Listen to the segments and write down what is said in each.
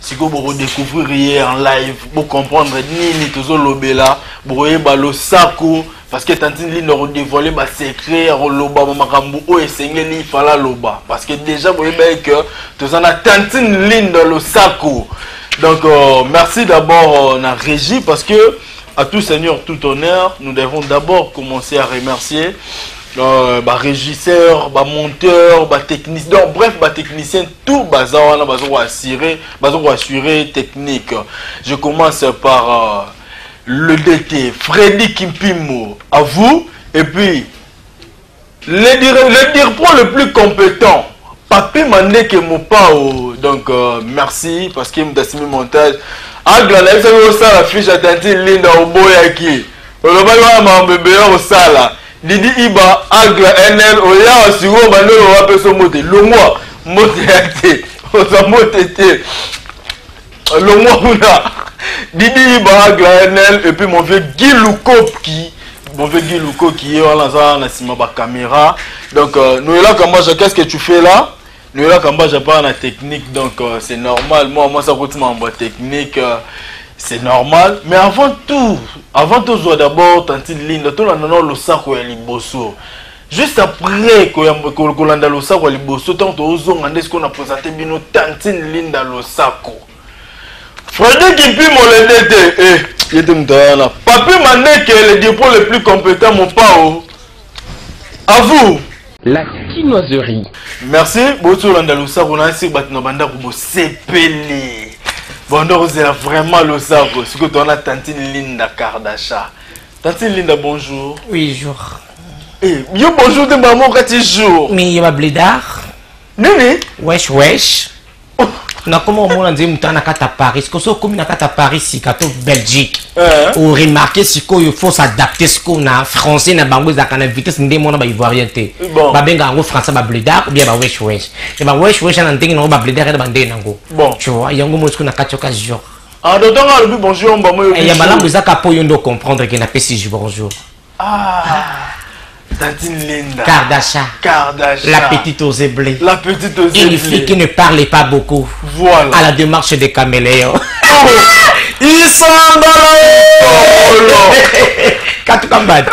sikoyo boko découvrir ye en live bo comprendre nini tozolobela bokoyeba losako parce que tantine lino akodévoile basecret akoloba bamakambo oyo esengeli ifala aloba parce que déjà boyeba ye que toza na tantine lino losako donc euh, merci d'abord euh, na régie parce que à tout seigneur tout honneur nous devons d'abord commencer à remercier euh, barégisseur bamonteur batechnicien donc bref batechnicien tout baza wana baza koassure baza koassure technique je commence par euh, le dt fredi kimpimo à vous et puis le, dire, le dirpro le plus compétent papi mandeke mopao donc euh, merci parce que mtasimi montage agla nayebisaki osala fiche atenti linda oboyaki olobaki wana mambo ebele kosala Didi Iba Agra NL oya sikoyo bandeko bapeso mbote longwa mbote ya te oza mbote te longwa kuna Didi Iba Agra NL et puis mon vieux Guy Lukopki mon vieux Guy Lukopki ye wana aza na nsima ba caméra donc euh, noyelaka mbaja qu'est-ce que tu fais là Noela Kambaja apart na technique donc euh, c'est normal moi moi ça coûte makambo ya technique euh, c'est normal mais avant tout avant tozwa d'abord tantine linda tolanda nao losako ya liboso juste après koyamba- ko- kolanda losako ya liboso ntango tozonga nde sikoyo na présente bino tantine linda losako Freddy Kimpi molende te eh ye te moto wana Papi Mandeke le dipro le plus compétent Mopao à vous la kinoiserie merci boti olanda losako na esiri bato na bandako bosepeli bondo kozela vraiment losako sikoyo towana tantine linda kardasha tantine linda bonjour oui jour eh, yo bonjour te mbala moko kati jour mais ye babledar nini wesh wesh nakoma omona nzembo mutana na kati ya paris sikoyo soki okomi na kati ya paris sika to belgique eh. oremarke sikoyo faut s'adapte sikoyo na français na bango ezalaka na vitesse nde mona baivoirien te babenga yango français babledar obia bawesh wesh e bawesh wesh ana ndenge nango babledar ena bandenge nango tu vois yango mona sikoyo na kati yoka jour ah, ya malamu ezaka mpo yo nde ocomprendre ke napesi bonjour Ah. Tati Linda. Kardasha. Kardasha. La petite aux blés. La petite aux Une fille qui ne parle pas beaucoup. Voilà. À la démarche des caméléons. Oh. Ils sont oh. Katuka mbadi.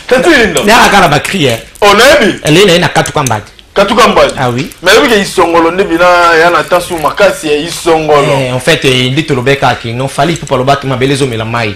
Tati Linda. Nara kana ba crier. On a vu. Elle est na katuka mbadi. Katuka mbadi. Ah oui. Mais oui que isongolo nde bina ya na tasu makasi ya isongolo. Eh, en fait, il dit to lobeka ki non fallait pour pas lobaka mabelezo melamai.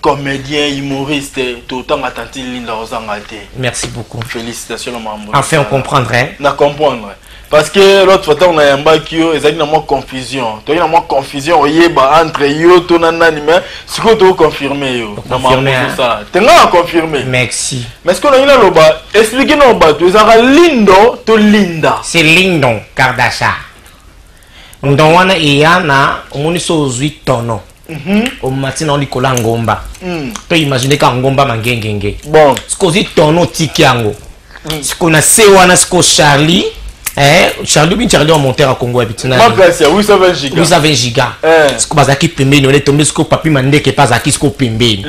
comedien humoriste totanga tanti linda ozanga te merci beaucoup félicitation na mambo enfin on comprendre hein? na comprendre parce que l'autre fois ntango nayambaki yo ezalaki na mwa confusion toyaki na mwa confusion oyeba entre yo to na nani mais sikoyo tokoconfirme yo na mambo osala te ngai na confirme merci mais sikoyo nangi naloba explike nao bato ezalaka lindo to linda c'est lindon kardasha ndon wana eya na omoni so ozwi tono Mhm. omati na likolo ya ngomba mm. to imagine ka ngomba mangengenge bon. sikozi tono otiki yango mm. siko na se wana siko charlie Eh, charlie bin charlie wamonter ya kongo ya bitinaaplace ya 820 giga eh. siko bazalaki pembeni ole tombe siko papi mandeke mpe azalaki siko pembeni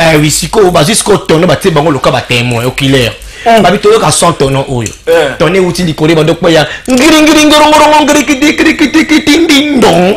eh, wi sikoyo bazwi siko tono batie bango loka batemoin okilaire mm. babi toyoka son tono oyo eh. tono euti likolo ebando kpeya ngiringiringorongorongo ngirikidikirikidikidindindon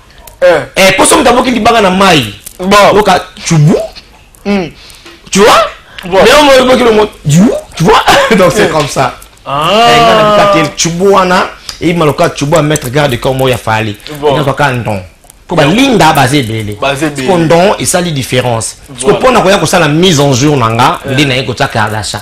eh. eh, poso moto aboki libanga na mai loka chubu hmm. tu vois mais omo eboki longo du tu vois donc c'est eh. comme ça ah. eh, nga na bika tel chubu wana eyima loka chubu a mettre garde corps moko ya fali nga kaka ndon mpo balinda baza ebele ko ndon esali différence siko mpo na koya kosala mise en jour na nga nde naye kotia kardasha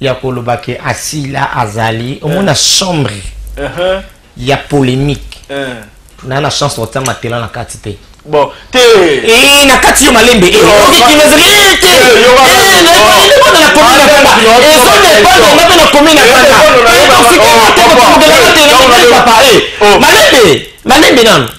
ya koloba ke asila azali omona eh. chambre uh-huh. ya polemique eh. na na chance otia matela na kati te bon te eh, na kati yo malembe malembe nano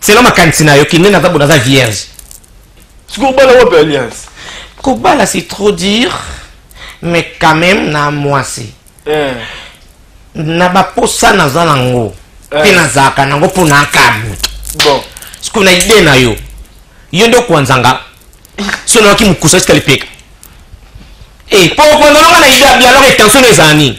selon makanisi na yo kinde naza bo naza vierge sikoyo obala wapi alliance kobala c'est trop dire mais quand même na mwasi eh. na baposa naza nango eh. mpe nazalaka nango mpo na nkabu bon sikoyo na ide na yo yo nde okwanzanga so nayaki mokusa esika lipeka e eh, mpo okwanzanga na ide ya bialoge tension ezala nini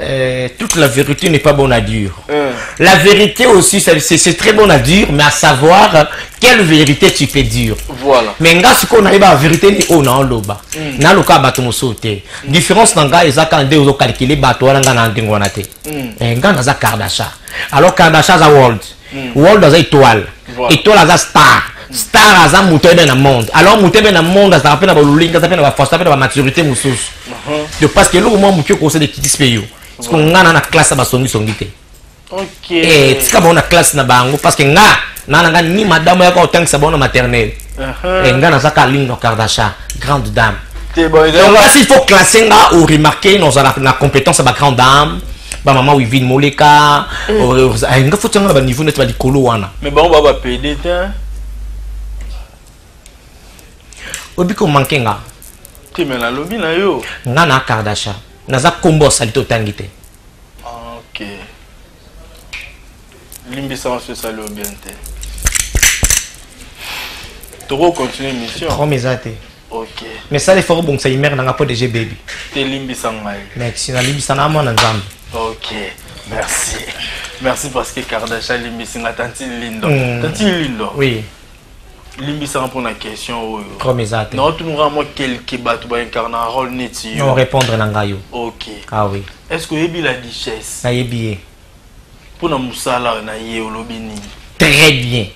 Euh, toute la vérité n'est pas bonne à dire. Euh. La vérité aussi, c'est très bon à dire, mais à savoir quelle vérité tu peux dire. Voilà. Mais nga ce qu'on a la vérité ni on en loba. Hmm. Na loka bato mosote. Hmm. Différence na nga eza quand deux calculer bato wana nga na ndingo na te. Hmm. Eh, nga na za Kardasha. Alors Kardasha za world. hmm. world aza étoile étoile aza star star aza moto ayebe na monde alors moto ayebe na monde azalaka mpe na balolingi aza mpe na bafaso mpe na bamaturité mosusu uh-huh. de parce que eloko mwa moke okosede kitisi mpe yo siko nga na na classe ya basongisongi te eh, tika bango na classe na bango parce que nga naa na nga ni madame yaka otangisa bango na maternele eh, nga naza ka ligne no kardasha grande dame kasi il faut classe nga o remarquer nozala na compétence ya ba grande dame bamama wivine moleka mm. oh, eh, nga foti yango na baniveau neti balikolo wana mais bango ba bapede te oyebi komanke nga te me nalobi na yo nga na kardasha naza kombo ya salite otangi te ah, okay. limbisa maso esali yo bien te toko continue mission trome eza te ok mais sala efort obongisa imere nanga mpo dg baby te limbisa ngai merci nalimbisa na mwana nzambe ok merci merci parce que kardasha alimbisi nga tanti lindo mm. tanti lindo oui limbisanga mpona question oyo comme eza te naotunaka mwa quelque bato baincarna role neti yo répondre na ngai yo ok ah oui est ce que oyebi la duchesse nayebi ye mpo na mosala oyo na ye olobi nini très bien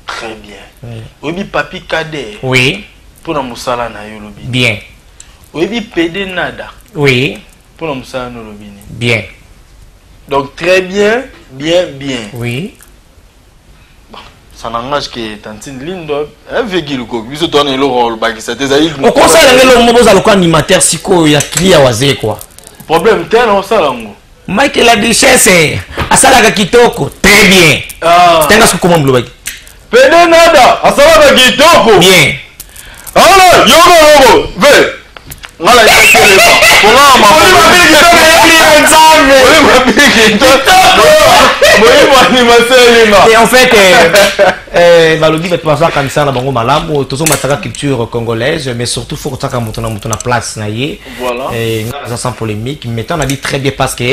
très bien oyebi papi cadet oui mpo na mosala na ye olobi bien oyebi pede nada oui mpo na mosala na olobi nini bien donc très bien bien bien oui ça n'engage que tantine lindo eh, vegile ko biso toana eloko olobakisa te ezali okosala nge eloko moko oza lokola animateur sikoyo ya clia waze kua problème te na osala yango mike la duchesse asalaka kitoko très bien ah. tanga sokoma molobaki pede nada asalaka kitoko bien Aona yoko yoko ve ngala ya kele ba ponga ma ko ba bi ki tole ya ni nzambe ko ba bi ki to bo yi ba ni ma seli ma et en fait eh, eh balobi bato baza kanisa na bango malamu tozomataka culture congolaise mais surtout faut kotaka moto na moto na place na ye eh, nga aza sans polémique mais ntango nabi très bien parce que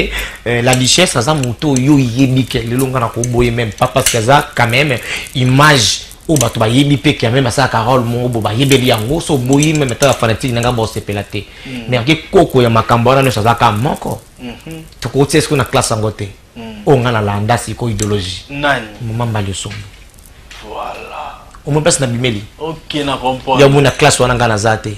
eh, la duchesse aza moto oyo oyebi ke lelo nga na koboye même pas parce que aza quand même image oyo oh, bato bayebi mpe kia meme asala carole mongo bo bayebeli yango so oboyi meme ata bafanatique na ngai bosepela te mm. mais ake koko ya makambo wana nyonso azalaka moko mm-hmm. tokoki tia sikoyo na classe yango te mm. oyo oh, ngai nalanda sikoyo idéologie mama mbali osombo omoi mpasi na bimeli ya omoi na classe wana ngai naza te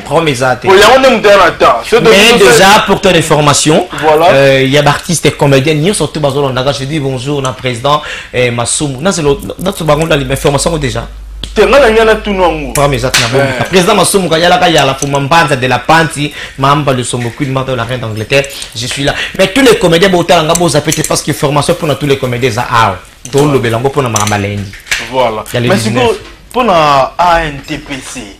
problème eza te yango nde moto na temps mais déjà pour ton information euh, ya baartiste et comédien nyonso to bazolondaka je dis bonjour na président eh, masumu nazelo nato bango nalima information yango déjà te nga na ngai natunu yango problème eza te na bongo eh. président masumu kayalaka yala fuma mbanza de la panti mamba le sombo queen mata la reine d'angleterre je suis là mais tous les comédiens botala nga boza pete parce que formation mpona tous les comédiens eza awa tolobela yango mpona makambo alendi voilà mais sikoyo mpona antpc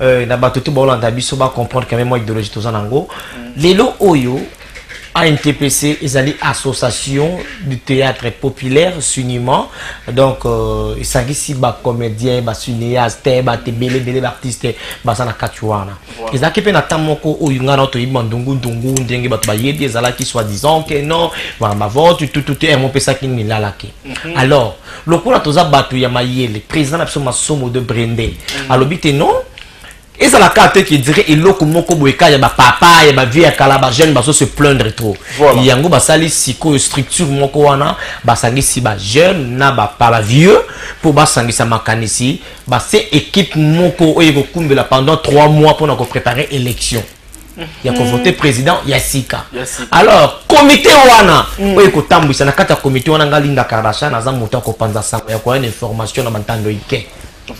euh, na bato te baolanda biso ba comprendre quand même mwa idéologie toza nango mm. lelo oyo ANTPC ezali association du théâtre populaire suniment donc euh, esangisi bacomédien basunéaste bato ebele ebele baartiste baza na kati wana ezalaki mpe na ntan moko oyo ngai nao toyebi bandungundungu ndenge bato bayebi ezalaki soi disant ke non bavante tutute yango mpesaki nilalaki Mhm. alors lokola toza bato ya mayele président na biso masomo de brende mhm. alobi te non ezala kaka te kedire eloko moko boye kaka ya bapapa ya bavie ya kala bajeune bazo se plaindre trop voilà. yango basali sikoyo structure moko wana basangisi bajeune na bapa bavieux mpo basangisa makanisi base équipe moko oyo ekokumbela pendant 3 mois mpona koprépare élection ya ko voter président ya sika alors comité wana mm. oyo ekotambwisa na kati ya comité wana ngai linda kardashan aza moto ya kopanza sango ya koya na information na bantando ike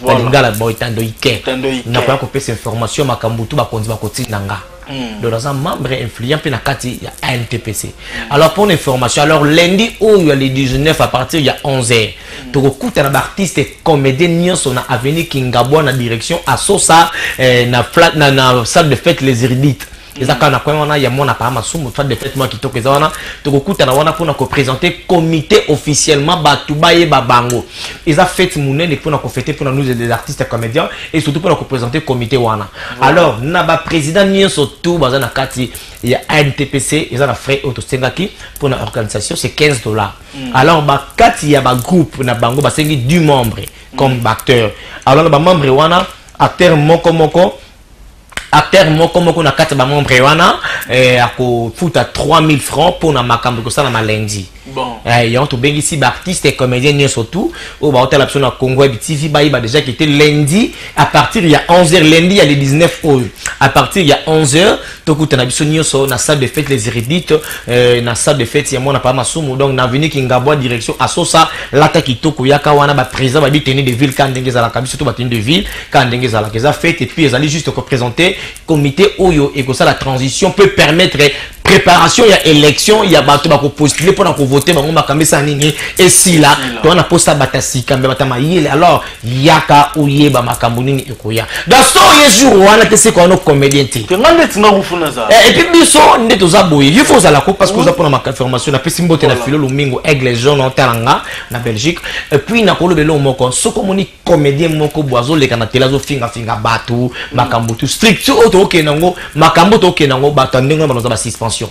na lingala boy tando ike nakoya kopesa information makambo tu bakonzi bakotinda nga mm. donc naza membre influent mpe na kati ya antpc alors pour information alors lundi oyo ya le 19 à partir ya 11 heures tokokutana baartiste comédien nyonso na avenue kingabwa na direction asosa eh, na, na, na salle de fête les iridites eza kaka na coin wana ya mwana paa masumu fat de fête mwa kitoko eza wana tokokutana wana mpona kopresente comité officiellement bato bayeba bango eza fete monene mpona kofete mpona nous des artistes comédiens et surtout mpona kopresente comité wana alors na baprésident nyonso tout baza na kati ya antpc eza na frais oyo tosengaki mpona organisation c'est 15 dollars Mm. alors bakati ya bagroupe na bango basengi du membre comme mm. baacteur alors na bamembre wana acteur moko moko acteur moko moko na kati ya bamembre wana eh, akofuta 3000 francs mpo na makambo ekosala malendi bon. eh, yango tobengisi baartiste et comédien nyonso tout oyo baotala biso na congo ya bitv bayeba déjà kete lundi à partir ya 11 heures lundi ya le 19 oyo à partir ya 11 heures tokutana biso nyonso na salle de fête les hérédites euh, na salle de fête ya mwana papa masumu donc na avenue kingabwa direction asosa lata kitoko yaka wana baprésent babi tenue de ville kaka ndenge ezalaka biso to batenue de ville kaka ndenge ezalaka eza fête et puis ezali juste koprésente comité oyo ekosala transition peut permettre préparation ya élection ya bato bakopostule mpona kovote bango makambo esala nini esila to wana mposa bata sika mbe bata mayele alors yaka oyeba makambo nini ekoya dasto oye jour wana te seko wana comédien te eh, epuis biso nde toza boye yo fo ozala ko parce que oza mpona maconfirmation napesi mbote na filo lomingo aigle jaune otala nga na belgique epuis nakoloba eloko moko soki omoni comédien moko bo azoleka na tele azofingafinga bato makambo tu structure oyo tokokende yango makambo tokokende yango bato ya ndenge wana banoza basuspension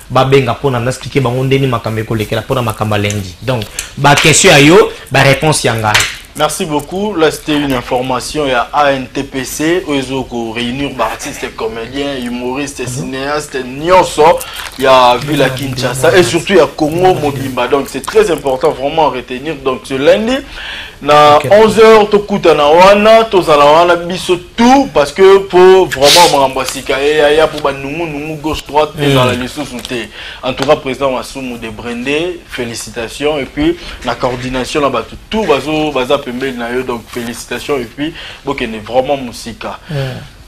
babenga mpo na naexplike bango ndeni makambo ekolekela mpo na makambo ya lendi donc baquestion ya yo baréponse ya ngai Merci beaucoup. Là, c'était une information. Il y a ANTPC, Oezoko, réunir artistes, comédiens, humoristes, mhm. cinéastes, Nyonso. Il y a Villa Kinshasa et surtout il y a Congo Mobimba. Donc, c'est très important vraiment à retenir. Donc, ce lundi, na 11h, Tokutana Wana, Tozala Wana, Bisso tout parce que pour vraiment makambo ya sika eyaya mpo banungunungu gauche droite mm. ezala lisusu te en tout cas président masumu de brende félicitations et puis na coordination na bato tout bazo baza pembeni na yo donc félicitations et puis bokende vraiment mosika mm.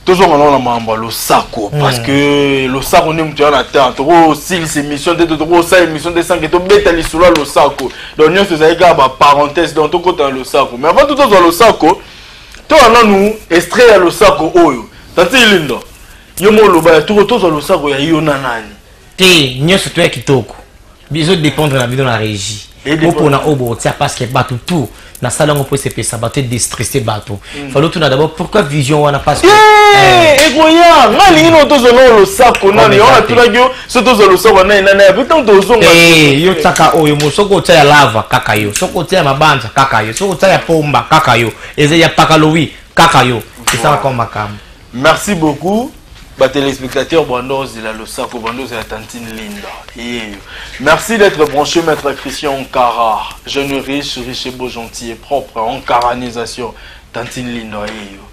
tozonga nao na makambo ya losako mm. parce que losako nde moto ya na temps tokosilisa émission te tokosala émission te sanke tobeta lisolo ya losako donc nyonso ezali kaka baparenthèse donc tokota na losako mais avant to tozwa losako toa nanu estre ya losako oyo tati lindo yo mo oloba ya tuko tozwa losako ya yo na nani te nyonso to ya kitoko bizo dépendre na bino na régie bopona oyo bokotia parce que bato tout nasala yango mpo esepesa bato edestresse bato hmm. fali otuna d'abord pourquoi vision wana parce que ekoya eh, eh. ngai alingi nao tozwa nao losako nani wana atunaki yo soki tozwa losoko naye nani ayebi ntango tozonga eh, yo taka oyo mo soki otya ya lava kaka yo soki otya ya mabanza kaka yo soki otya ya pomba kaka yo eza ya pakalowi kaka yo esala kaka makambo merci beaucoup batelespectateur bando ozela losako bando ozela tantine linda yeyo merci d'être branché maître christian onkara jeune riche riche beau gentil et propre onkaranisation tantine linda yeyo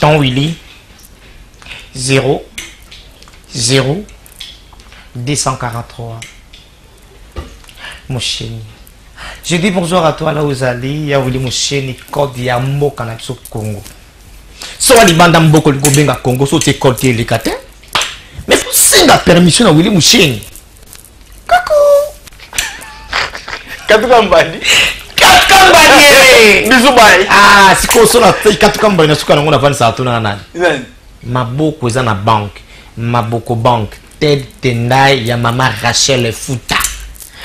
Ton Willy 0 0 243 Mosheni. Je dis bonjour à toi là où Zali, ya Willy Mosheni, code ya mboka na biso Congo. Soki libanda mboko likobenga Congo, so te code te elekate. Mais faut singa permission na Willy Mosheni. katuka mbadi katuka mbadi eh. bisu bai ah sikoyo so na katuka mbadi na suka nango nafandisaka tuna na nani maboko eza na banke maboko banke ted tendai ya mama rachel futa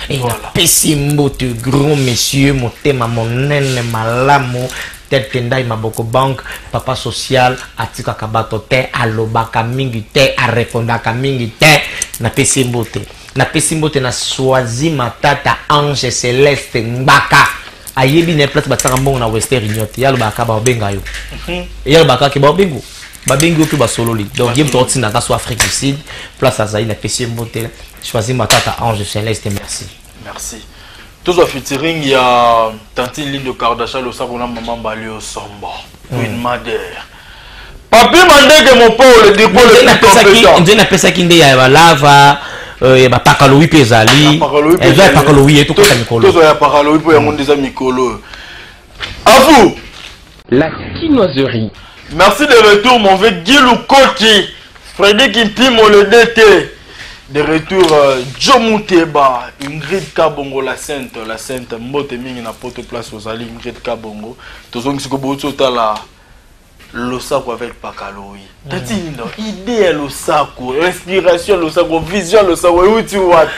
e napesi mbote grand monsieur motema monene malamu Ted Tendai Maboko Bank, papa social atikaka bato te, alobaka mingi te, arepondaka mingi te. Napesi mbote, napesi mbote na Swazi Matata Ange Celeste Ngbaka ayebi na ye place batiaka mbongo na Western Union te, yalobaka baobenga yo, mhm. yalobaka ke baobengo babengi yo mpe basololi donc ye moto akotinda kaso afrique du sud place azali na pesi ye mbote choisi matata ange celeste merci merci tozwa featuring ya tantine lindo kardasha losako na mama mbali osombo queen mm. mother papi mandeke mopole dikole napesaki nde ya balava euh, ya bapakalowi mpe ezali eza ya pakalowi ye tokota mikolo tozwa ya pakalowi mpo yango nde eza mikolo À vous. La kinoiserie. Merci de retour, mon vieux Gilou Koki. Freddy Kimpimo, le DT. De retour, euh, Joe Mouteba, Ingrid Kabongo, la Sainte, la Sainte, Mbote Mingi, na Poto Place, Ozali, Ingrid Kabongo. Tozongi Sikobo, Totala. losako avec pakalo oui mm. tatindo idée ya losako inspiration ya losako vision ya losako euti wapi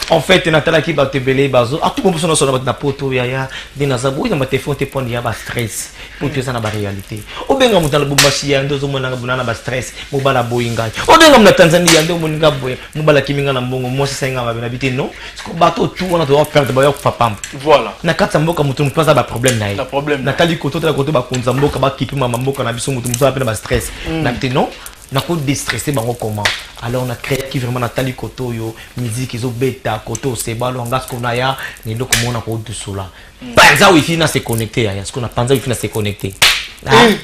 en fait natalaki bato ebele bazo atuko biso nyonso na bato na poto yaya nde naza boyi na batelefone te mpona ya bastress mpo to eza na baréalité obenga moto na lubumbashi ya nde ozomonanga bona na bastress mobala boyi ngai obenga mo na tanzanie ya nde omoni nga boye mobala kimi nga na mbongo mwasi asali nga mabe na bi te non bato tour wana toza perdre bayo kufa pamba voilà na kati ya mboka moto moto aza baproblème na ye natali kote otala kote bakonzi ya mboka bakipe mama mboka na biso moto moto aza mpe na bastress mm. na te non nakodestresse bango comment alors na créaki vraiment natali kote oyo miziki ezobeta kote osebalo anga siko na ya na eloko moko na kodusola mm. panza wifi na se connecte yaya siko na panza wifi na se connecte ah. eh.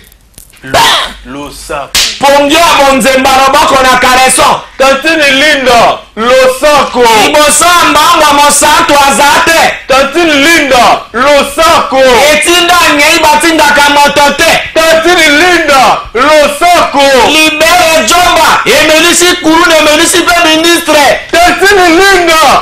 losako pongio ya monzemba loboko na kaleso tantine linda losako liboso ya mbangwa mosantu aza te tantine linda losako etinda ngei batindaka moto te tantine linda losako libere jomba emelisi kuluna emelisi mpe ministre tantine linda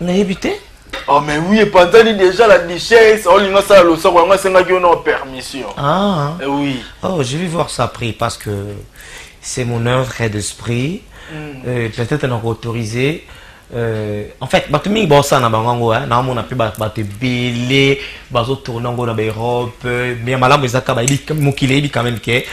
nayebi te Oh mais oui, epanzani déjà la duchesse, oh, olinga sala losoko yango asengaki yo na permission. Ah. Eh oui. Oh, je vais voir ça après parce que c'est mon œuvre d'esprit. Mm. Euh, peut-être on a autorisé euh, en fait bato mingi baosala na bango yango naomona mpe bato ebele bazotourne yango na baeurope ya malamu eza kaka mokili eyebi quand même ke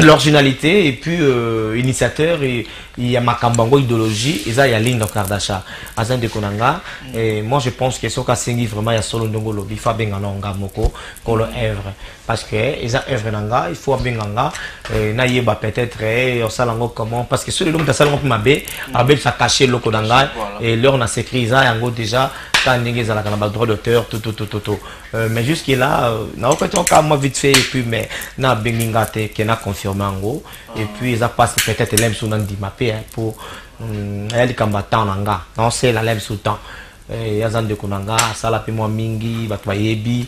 l'originalité et puis euh, initiateur et, ya makambo yango idéologie eza ya linda kardasha aza ndeko na nga et moi je pense que soki asengi vraiment ya solo ndenge olobi faut abenga na nga moko kolo œuvre parce que eza œuvre na nga il faut abenga nga eh, nayeba peut-être eh, osala yango comment parce que soki lelo moto asala yango mpe mabe abebisa cache eloko na ngai et l'heure na secret eza yango déjà ta ndenge ezalaka na ba droit d'auteur tout tout tout tout tout euh, mais jusque là euh, naokoki toka moi vite fait et puis mais nabengi nga te ke na confirme yango et puis eza pasi peut-être elai biso nandima mpe eh, mpo mm, aya likambo ya temps na nga naosela elai biso temps eh, aza ndeko na nga asala mpe mwa mingi bato bayebi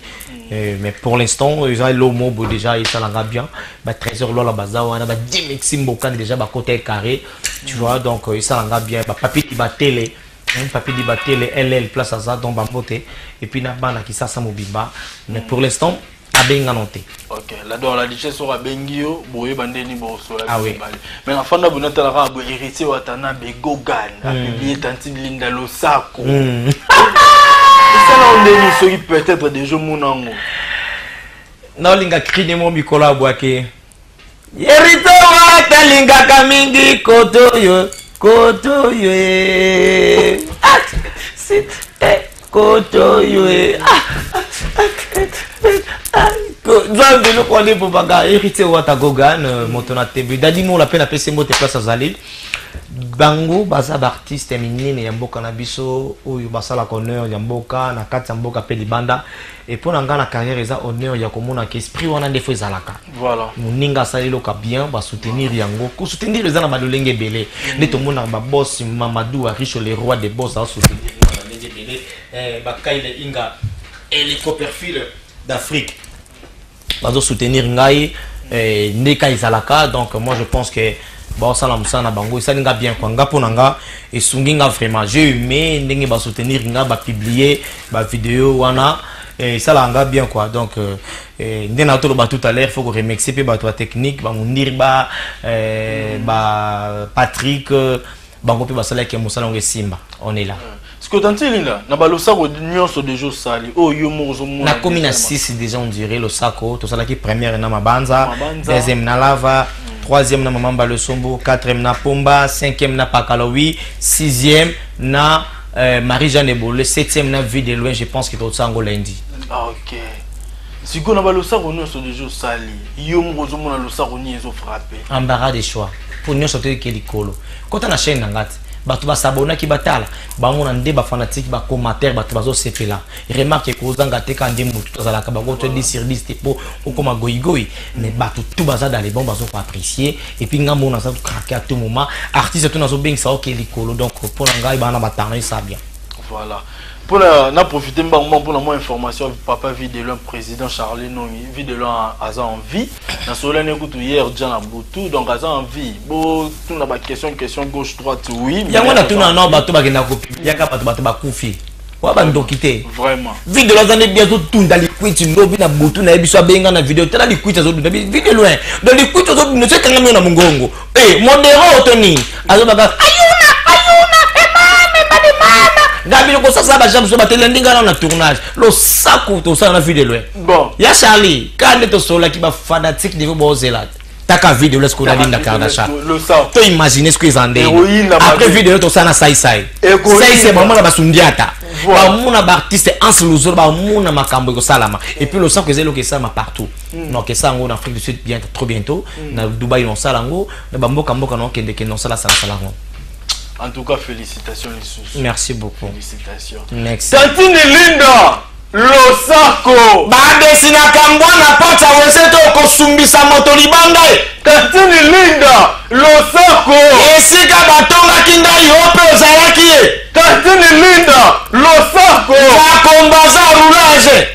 eh, mais pour l'instant eza elo mobo déjà esala nga bien ba trésor lola baza wana ba dimixi mbokani déjà bakota ecarré tu vois donc esala nga bien bapapi libatele Hein, papi libatele ll place aza donc bambote et puis na bana kisasa mobimba mais pour l'instant abenga no te ok la donc la richesse oyo abengi yo boyeba nde nini bosola ah mibale mais na fanda bino tala kaka boye héritier watana begogan hmm. apiblie tantine linda losako hmm. esala yo ndeni soki peut-être deja omona yango naolinga krine mo mikolo abwake Yerito wata lingaka mingi koto yo koto yo eh. ah, sit, eh, koto yo eh. ah, ah, eh, eh, ah, nzambe eloko wana ebobaka héritier wata gogan euh, moto na tembe dadi mola mpe napesi mbote place azali bango baza baartiste minene ya mboka na biso oyo basalaka honneur ya mboka na kati ya mboka mpe libanda Et pour nga na carrière eza honneur ya komona que esprit wana nde faut ezalaka. Voilà. Muninga asali loka bien ba soutenir yango. Ko soutenir eza na ba lolenge belé. Mm. Nde tomona ba boss Mamadou Aricho le roi des boss a soutenir na ba lolenge belé. Eh ba Kyle Inga et les coperfiles d'Afrique. bazo soutenir ngai eh, ndeka ezalaka donc moi je pense que baosala mosala na bango esali nga bien kua nga mpo na nga esungi nga vraiment je hume ndenge basoutenir nga bapublie bavideo wana eh, esalaka nga bien kua donc euh, eh, nde na toloba tout à l'heure faut koremercie mpe bato ya technique bamundiri ba, eh, ba patrick bango mpe basalaki ya mosala yango esimba on est là sikoyo tante linda na balosako nyonso deja osali oyo oh, yo moko ozomona nakomi na 6 deja ondire losako tosalaki première na mabanza deuxième na lava troisième na mama mbala esombo quatrième na pomba cinquième na pakalowi sixième na euh, marie jeanne ebole septième na vie de loin je pense que totosala yango lundi ah, ok sikoyo na balosako nyonso deja osali yo moko ozomona losako nini ezofrappe embarras de choix mpo nyonso toyoki ye likolo kota na chaîne na ngai te bato basabonaki batala bango na nde bafanatike bacommentaire bato bazosepela remarke ekozanga te ka nde motu tozalaka bango to 10 sur 10 te mpo okoma goigoi mais bato tu baza dans les bon bazoko apprécier epuis ngai mona aza krake à tout moment artiste to nazobengisa oke likolo donc mpo na ngai bana batano esa bien voilà mpo na na profite mbango mbango mpo na mwa information papa vie de loin président charles nongi vie de loin aza en vie nasololani kutu hier dja na butu donc aza en vie botuna baquestion question gauche droite oui yango natuna no bato bakenda kopibiliaka bato bato bakufi wa bandoki te video aza nde bi azotunda likwiti lobi na butu na ye biso abenga na video tala likwiti azodunda video loin donc likwiti ozodunda so ekangami yo na mongongo Eh, modero to nini azobaka ayuna ayuna emame eh, badi mama gabi lokosasa bajam so batelandi ngai nao na tournage losako tosala na vue de loin bon ya charlie ka nde tosololaki bafanatique niveau bozela te taka vue de loin soki onalinda kardasha to imagine soki eza ndenge après vue de loin tosala na saisai saisai bamona basundiata bamona baartiste anse luzolo bamona makambo ekosalama epuis losako eza eloko esalama partout Mm. Donc ça en Afrique du Sud bien trop bientôt mm. na Dubaï on sala ngo na ba mboka mboka na kende kende on sala sala sala ngo En tout cas félicitations les sous. Merci beaucoup. Félicitations. Next. Tantine Linda losako badesi na kambwa na pati ya wese to kosumbisa moto libanda ye katini linda losako esika batongaki ndai yo mpe ozalaki ye katini linda losako bakombaza roulage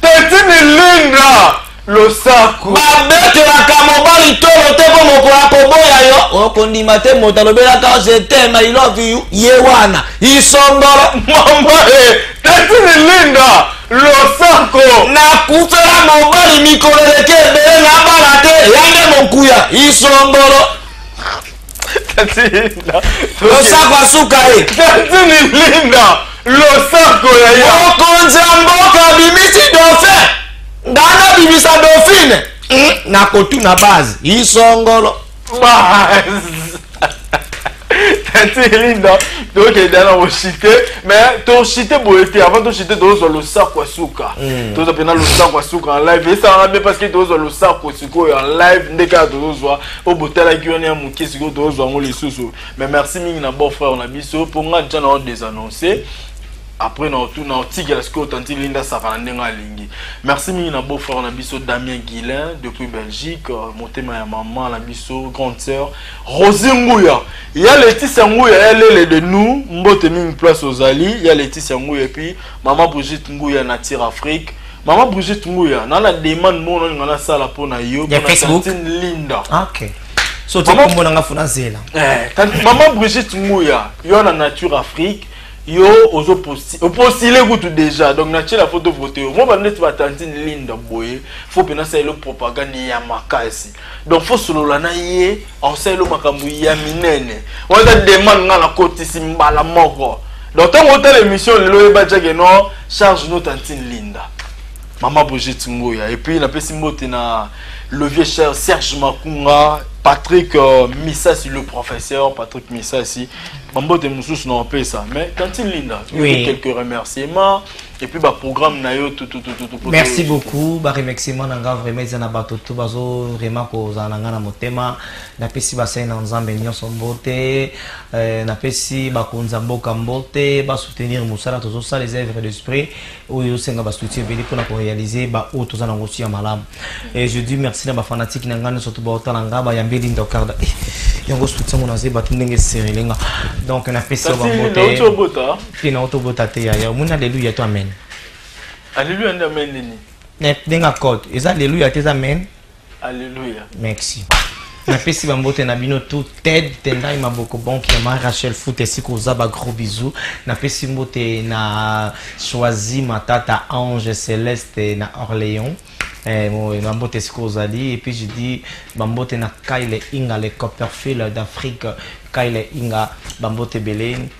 Petit Milinga losako. Babetelaka mobali tolo te po mokolo akoboya yo okondima te moto alobelaka je t'aime i love you ye wana isombolo mama e teti milinda losako nakufela mobali mikolo eleki ebele na bana te yange mokuya isombolo losako asuka ye tatini linda losako ya ye mokonzi ya mboka abimisi dauphin ngai nabimisa dauphine hmm? nakotuna base isongolo linda tokenda na koshite mais toshite boye te avant toshite tozozwa losako ya suka hmm. tozwa mpena losako ya suka en live esalanga bien parce que tozozwa losako sikoyo en live nde kaka tozozwa po botalaki wana ya moke sikoyo tozwa yango lisusu mais merci mingi na bon frère na biso mpo nga nja na o désannonce après na otuna otikela sikoyo tanti linda asaka na ndenge alingi merci mingi na beau frère na biso damien guilin depuis belgique euh, motema ya mama na biso grande sœur rosi nguya ya leticia nguya ya lele de nous mbote mingi place ozali ya leticia nguya epuis mama brigitte nguya nature afrique Maman Brigitte Nguya, nana demande moko na ngana sala pona yo pona Facebook? tantine Linda. Ah, ok. So tu Maman- kombo na nga funa zela. Eh, tant- maman Brigitte Nguya, yo na Nature Afrique, yo ozo posti, opostile kutu déjà. Donc na tiela photo vote yo. Moi ba net ba tantine Linda boye, faut pena sa elo propagande ya makasi. donc faut solola na ye oselo makambo ya minene wana demande nga nakotisi mbala moko donc ntango otala émission lelo oyeba jake no charge no tantine linda mama brigitte ngoya epuis napesi mbote na le vieux cher serge makunga patrick euh, misasi le professeur patrick misasi bambote mosusu na opesa mais tantine linda oui. quelques remerciements et puis ba programme na yo tout tout tout tout merci beaucoup ba remerciement na nga vraiment eza na bato tout bazo vraiment kozala na nga na motema napesi basali na nzambe nyonso mbote euh, napesi bakonzi ya mboka mbote basoutenir mosala tozosala eza evre d'esprit oyo ezosenga basuti ebele mpona korealize baoyo toza na ngosi ya malamu et je dis merci na bafanatike na ngai nyonso to baotala nga bayambeli ndokarda eh, yango soutien ngo naza bato ndenge eserele nga donc napesi yo bambote Pe na oto bota te yaya omoni aleluya to amen. Aleluya nde amen nini? Na denga code eza aleluya te eza amen. Aleluya. Merci. napesi bambote na bino tout ted tendai maboko bonki ya ma rachel fut esika oza ba gros bisou napesi mbote na choisi matata ange celeste na orléans eh, bambote esika ozali epuis je dis bambote na kyle inga le copperfield d'afrique kyle inga bambote ebele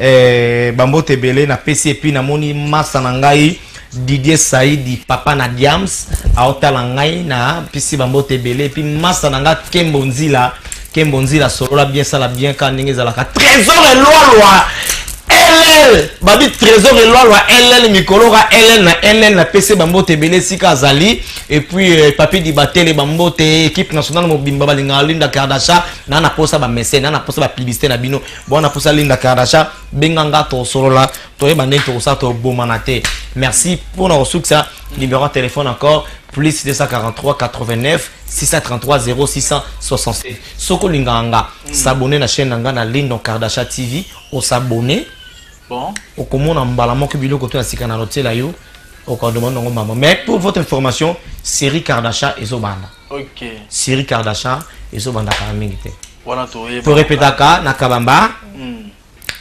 Eh, bambote ebele na pesi epi namoni masa na ngai didier saidi papa na diams aotala ngai na pisi bambote ebele epi masa na ngai kembo nzila kembo nzila solola bien sala bien kaka ndenge ezalaka trésor elwalwa ll babi trésor elwalwa ll mikolo ka ll na ll na pesi bambote ebele esika azali epuis euh, papi dibatele bambote ekipe nationale mobimba balingaka linda kardasha na naposa bamesene na naposa bapublicité na bino bona posa linda kardasha benga nga tosolola toyeba ndenge tokosala tobomana te merci mpona kosukisa numéro ya telefone encore plus 243 89 633 0667 soki olingaka nga mm. sabone na chaîne na nga na lindon kardasha tv osabone bon. okomona mbala moko biloko to ya sika na lotiela yo okadoma nango mama mais pour votre information série kardasha ezobanda ok série kardashan ezobanda kala mingi te wana toyeba torepetaka na kabamba hmm.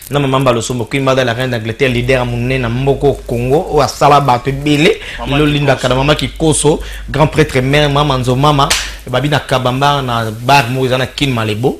na mama mbalosombo kuimbada la reine d'angleterre leader monene na mboko congo oyo asala bato ebele lelo lindaka na mama kikoso grand prêtre mère mama nzo mama babi na kabamba na bar moko eza na kin malebo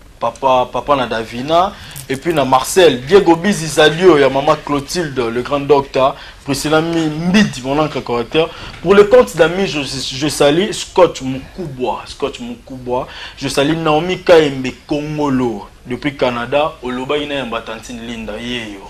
papa papa na davina et puis na marcel diego bizi zalio ya mama clotilde le grand docteur priscilla mbidi mon ancre correcteur pour le compte d'amis je, je sali scott mukubwa scott mukubwa je sali naomi kaembe kongolo depuis canada olobaki na ya mbatantine linda yeyo